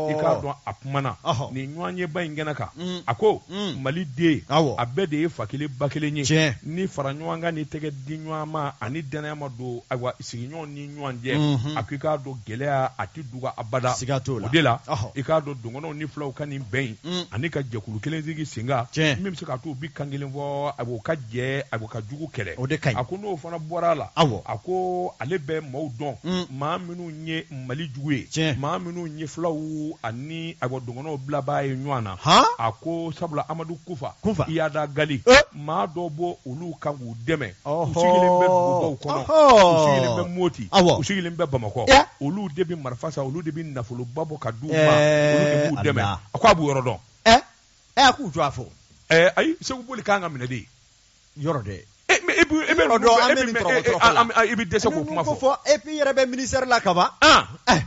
i k'a dɔn a kumana nin ɲɔgɔn ye ba in kɛnɛ kan a ko mali den a bɛɛ de ye fa kelen ba kelen ye ni fara ɲɔgɔn kan ni tɛgɛ di ɲɔgɔn ma ani dannaya ma don ayiwa sigiɲɔgɔn ni ɲɔgɔn cɛ a ko i k'a dɔn gɛlɛya a tɛ duga abada siga t'o la o de la i k'a dɔn dɔgɔnɔw ni fulaw ka nin bɛn in ani ka jɛkulu kelen sigi sen kan min bɛ se k'a to u bi kan kelen fɔ awa u ka jɛ ayiwa ka jugu kɛlɛ o de ka ɲi a ko n'o fana bɔra a la a ko ale bɛ maaw dɔn maa minnu ye mali jugu ye tiɲɛ maa minnu ye fulaw ani ayiwa dɔgɔnɔw bilabaa ye ɲɔgɔn na a ko sabula amadu kufa kufa iyad ag gali maa dɔ bɔ olu kan k'u dɛmɛ u sigilen bɛ dugubaw kɔnɔ u sigilen bɛ moti u sigilen bɛ bamakɔ olu de bɛ marifa san olu de bɛ nafoloba bɔ ka d'u ma olu de b'u dɛmɛ a ko a b'u yɔrɔ dɔn ɛ k'u tɔgɔ fɔ ayi seku boli kan ka minɛ de yɔrɔ dɛ e i bɛ dɛsɛ k'o kuma fɔ e yɛrɛ bɛ minisitɛri la kaban e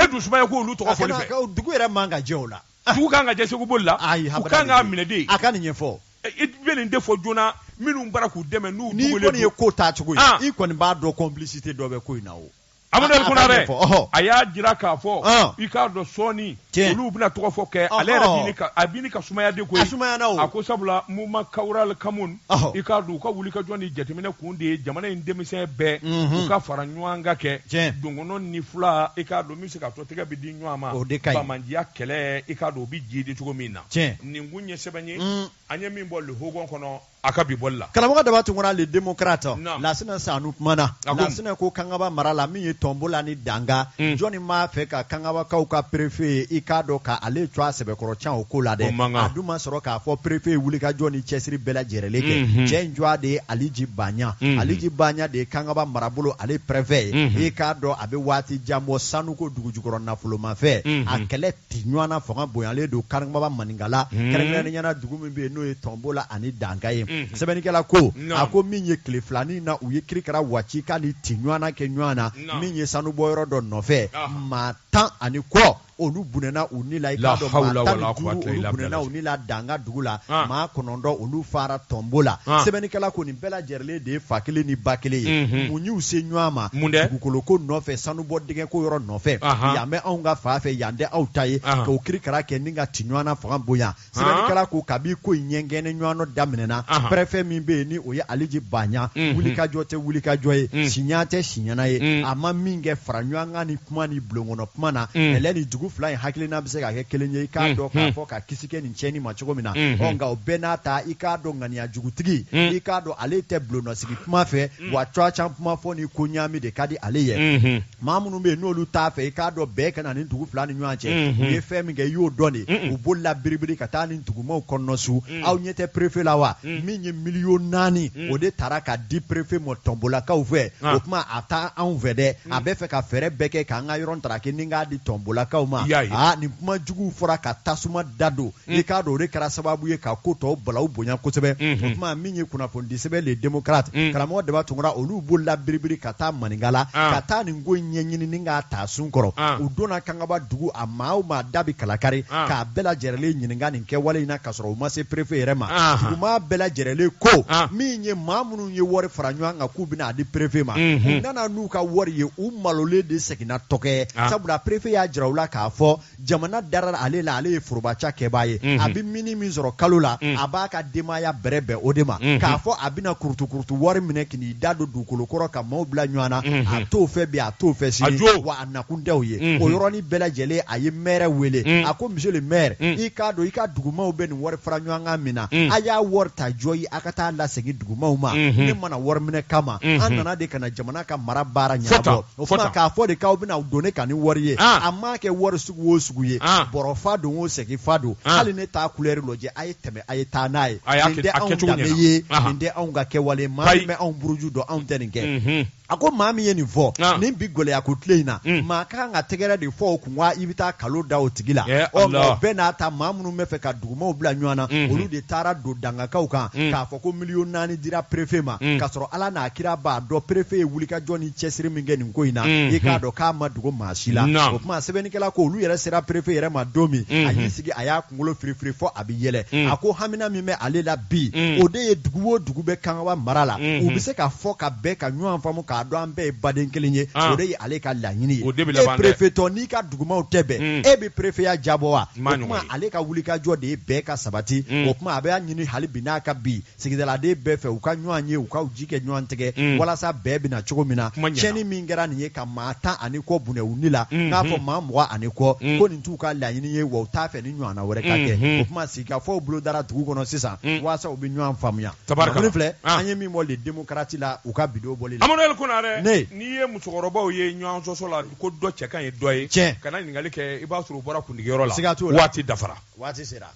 dun sumaya k'olu tɔgɔ fɔ dugu yɛrɛ man ka jɛ o la dugu kan ka jɛ seku boli la Ayi, u habada kan de k'a don. minɛ de a ka nin ɲɛfɔ i bɛ nin de fɔ joona minnu b'a la k'u dɛmɛ n'u n'i dogolen kɔni ye don. ko taa cogo ye Ah. i kɔni b'a dɔn complicité dɔ bɛ ko in na o Amadu a- a Kona ka dɛ ɲɛfɔ, ɔhɔ. a y'a jira k'a fɔ Ah. i k'a dɔn sɔɔni Tiɲɛ. olu bɛna tɔgɔ fɔ kɛ ale yɛrɛ Ɔhɔ. bini ka a bini ka sumaya de koyi A sumayana o. a ko sabula mouvement kawural kamun Ɔhɔ. i k'a dɔn u ka wulikajɔ ni jateminɛ kun de ye jamana in denmisɛn bɛɛ Mhm. u ka fara ɲɔgɔn kan kɛ Tiɲɛ. dɔgɔnɔ ni fula i k'a dɔn min bɛ se ka to Tɛgɛ bɛ di ɲɔgɔn ma, o de ka ɲi, banbaanciya kɛlɛ i k'a dɔn o bɛ jiidi cogo min na, tiɲɛ, nin kun ye sɛbɛn ye, un, an ye min bɔ le Hogon kɔnɔ a ka bi bɔli la. Karamɔgɔ Daba Tunkara le démocrate, naamu, Lasina Sanu kumana, a ko, Lasina ko kangaba mara la min ye Tɔnbola ni Danga, un, jɔni b'a fɛ ka kangabakaw ka perefe ye i k'a dɔn ka ale tɔgɔ sɛbɛkɔrɔ tiɲɛ o ko la dɛ, o man kan, a dun ma sɔrɔ k'a fɔ perefe ye wulikajɔ ni cɛsiri bɛɛ lajɛrɛlen kɛ, unhun, cɛ in tɔgɔ de ye Aliji Baɲa, unhun, Aliji Baɲa de ye kangaba marabolo ale prefet ye, unhun, i k'a dɔn a bɛ waati jan bɔ sanu ko dugujukɔrɔ nafolomafɛn a kɛlɛ ti ɲɔgɔnna fanga bonyalen don kangaba maninkala kɛrɛnkɛrɛnnenya na dugu min bɛ yen n'o ye tɔnbola ani danga ye sɛbɛnnikɛla ko a ko min ye tile filanin na u ye kirikara wacika ni ti ɲɔgɔnna kɛ ɲɔgɔn na min ye sanubɔyɔrɔ dɔ nɔfɛ maa tan ani kɔ olu bɔnɛna u ni la i k'a dɔn maa tan ni duuru olu bɔnɛna u ni la danga dugu la maa kɔnɔntɔn olu fara tɔnbola sɛbɛnnikɛla ko nin bɛɛ lajɛrɛlen de ye fa kelen ni ba kelen ye mun y'u se ɲɔgɔn ma mun dugukolo ko nɔfɛ sanubɔ dingɛ ko yɔrɔ nɔfɛ yan bɛ anw ka fan fɛ yan tɛ aw ta ye k'o kirikara kɛ ni ka ti ɲɔgɔnna fanga bonya sɛbɛnnikɛla ko kabi ko in ɲɛgɛnɛ ɲɔgɔnɔ daminɛna Ahan. pɛrɛfɛ min bɛ yen ni o ye aliji baɲa Mhm. wulikajɔ tɛ wulikajɔ ye Mm. siɲa tɛ siɲana ye Mm. a ma min kɛ faraɲɔgɔnkan ni kuma ni bulonkɔnɔ kuma na Mm. yala ni dugu fila in hakilina bɛ se ka kɛ kelen ye i k'a Mm. dɔn k'a Mm. fɔ ka kisi kɛ nin tiɲɛni ma cogo min na Mhm. ɔ nka o bɛɛ n'a ta i k'a dɔn ŋaniya jugutigi Mm. i k'a dɔn ale tɛ bulonnɔsigi kuma fɛ wa tɔgɔtiɲɛ kuma fɔ ni ko ɲaami de ka di ale ye Mhm. maa minnu bɛ yen n'olu t'a fɛ i k'a dɔn bɛn ka na nin dugu fila ni ɲɔgɔn cɛ u ye fɛn min kɛ i y'o dɔn de u bolila biribiri ka taa nin dugumaw kɔnɔna su aw ɲɛ tɛ perefe la wa min ye miliyɔn naani o de taara ka di perefe ma tɔnbolakaw fɛ o tuma a t'anw fɛ dɛ a bɛ fɛ ka fɛɛrɛ bɛɛ kɛ k'an ka yɔrɔ ntaraki ni k'a di tɔnbolakaw ma aa nin kuma juguw fɔra ka tasuma dadon Mm. i k'a dɔn o de kɛra sababu ye ka ko tɔw balaw bonya kosɛbɛ mm-hmm. o tuma min ye kunnafonidi sɛbɛn le démocrate mm. karamɔgɔ daba tunkara olu bolila biribiri ka taa maninka la ah. ka taa nin ko ɲɛɲini ni k'a ta sun kɔrɔ ah. u donna kangaba dugu a maa o maa da bi kalakari ah. k'a bɛɛ lajɛrɛlen ɲininka nin kɛwale in na k'a sɔrɔ u ma se perefe yɛrɛ ma duguma bɛɛ lajɛrɛlen ko min ye maa minnu ye wari fara ɲɔgɔn kan k'u bɛna a di perefe ma mm-hmm. u nana n'u ka wari ye u malolen de seginna tɔkɛ sabula perefe y'a jira u la k'a fɔ jamana dara ale la ale ye forobacakɛbaa ye a bɛ mini min sɔrɔ kalo la a b'a ka denbaya bɛrɛ bɛn o de ma k'a fɔ a bɛna kurutukurutu wari minɛ k'i da don dugukolo kɔrɔ ka maaw bila ɲɔgɔn na a t'o fɛ bi a t'o fɛ sini wa a nakun tɛ o ye o yɔrɔnin bɛɛ lajɛlen a ye mɛri wele a ko monsieur le maire i k'a dɔn i ka dugumaw bɛ nin wari fara ɲɔgɔn kan min na a y'a wari ta jɔ ye a ka taa lasegin dugumaw ma ne ma na wari minɛ kama an nana de ka na jamana ka mara baara ɲɛnabɔ O tuma k'a fɔ de k'aw bɛna don ne kan ni wari ye Ah. a ma kɛ wari sugu o sugu ye Ah. bɔrɔ fa don o segi fa don Ah. hali ne t'a kulɛri lajɛ a ye tɛmɛ a ye taa n'a ye A y'a nin kɛ- tɛ a anw kɛcogo danbe ɲɛna. ye Aha. nin tɛ anw ka kɛwale maa Ayi. min bɛ anw buruju dɔn anw tɛ nin kɛ Mhm. a ko maa min ye nin fɔ Ah. nin bi gɛlɛya ko tile in na Mm. maa ka kan ka tɛgɛrɛ de fɔ o kun wa i bɛ taa nkalon da o tigi la Eh, ɔ nka Allah. o bɛɛ n'a ta maa minnu bɛ fɛ ka dugumaw bila ɲɔgɔn na Mhm. olu de taara don dangakaw kan Mm. k'a fɔ ko miliyɔn naani dira perefe ma mm. k'a sɔrɔ ala n'a kira b'a dɔn perefe ye wulikajɔ ni cɛsiri min kɛ nin ko in na mm. i k'a dɔn k'a ma dogo maa si la o tuma sɛbɛnnikɛla ko olu yɛrɛ sera perefe yɛrɛ ma don min mm-hmm. a y'i sigi a y'a kunkolo firifiri fɔ a bɛ yɛlɛ mm. a ko hamina min bɛ ale la bi mm. o de ye dugu o dugu bɛ kangaba mara la mm-hmm. u bɛ se ka fɔ ka bɛn ka ɲɔgɔn faamu k'a dɔn an bɛɛ ye baden kelen ye ah. o de ye ale ka laɲini ye e perefetɔ n'i ka dugumaw tɛ bɛn e bɛ perefeya diyabɔ wa o tuma ale ka wulikajɔ de ye bɛɛ ka sabati o tuma a bɛ ɲini hali bi n'a ka bi sigidaladen bɛɛ fɛ u ka ɲɔgɔn ye u ka ji kɛ ɲɔgɔn tɛgɛ mm. walasa bɛn bɛ na cogo min na tiɲɛni min kɛra nin ye ka maa tan ani kɔ bɔnɛ u ni la mm-hmm. n'a fɔ maa mugan ani kɔ mm. ko nin t'u ka laɲini ye wa u t'a fɛ nin ɲɔgɔnna wɛrɛ ka kɛ mm-hmm. o tuma sigikafɔw bolo dara dugu kɔnɔ sisan mm. walasa u bɛ ɲɔgɔn faamuya tabarikala filɛ ah. an ye min bɔ le démocrate la u ka bi don bɔli la amadu konare ne n'i ye musokɔrɔbaw ye ɲɔgɔn sɔsɔ la ko dɔ cɛ ka ɲi dɔ ye tiɲɛ kana ɲininkali kɛ i b'a sɔrɔ u bɔra kundigiyɔrɔ la siga t'o la waati dafara waati sera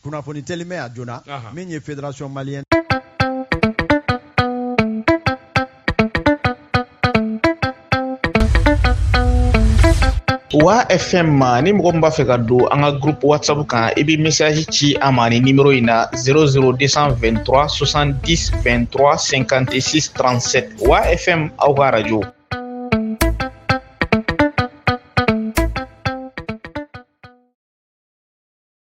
kunnafoni teliman a joona min ye fédération malienne wa fm ma ni mɔgɔ min b'a fɛ ka don an ka groupe whatsapp kan i bɛ message ci a ma ni nimero in na 00223 70 23 56 37 wa fm aw ka radio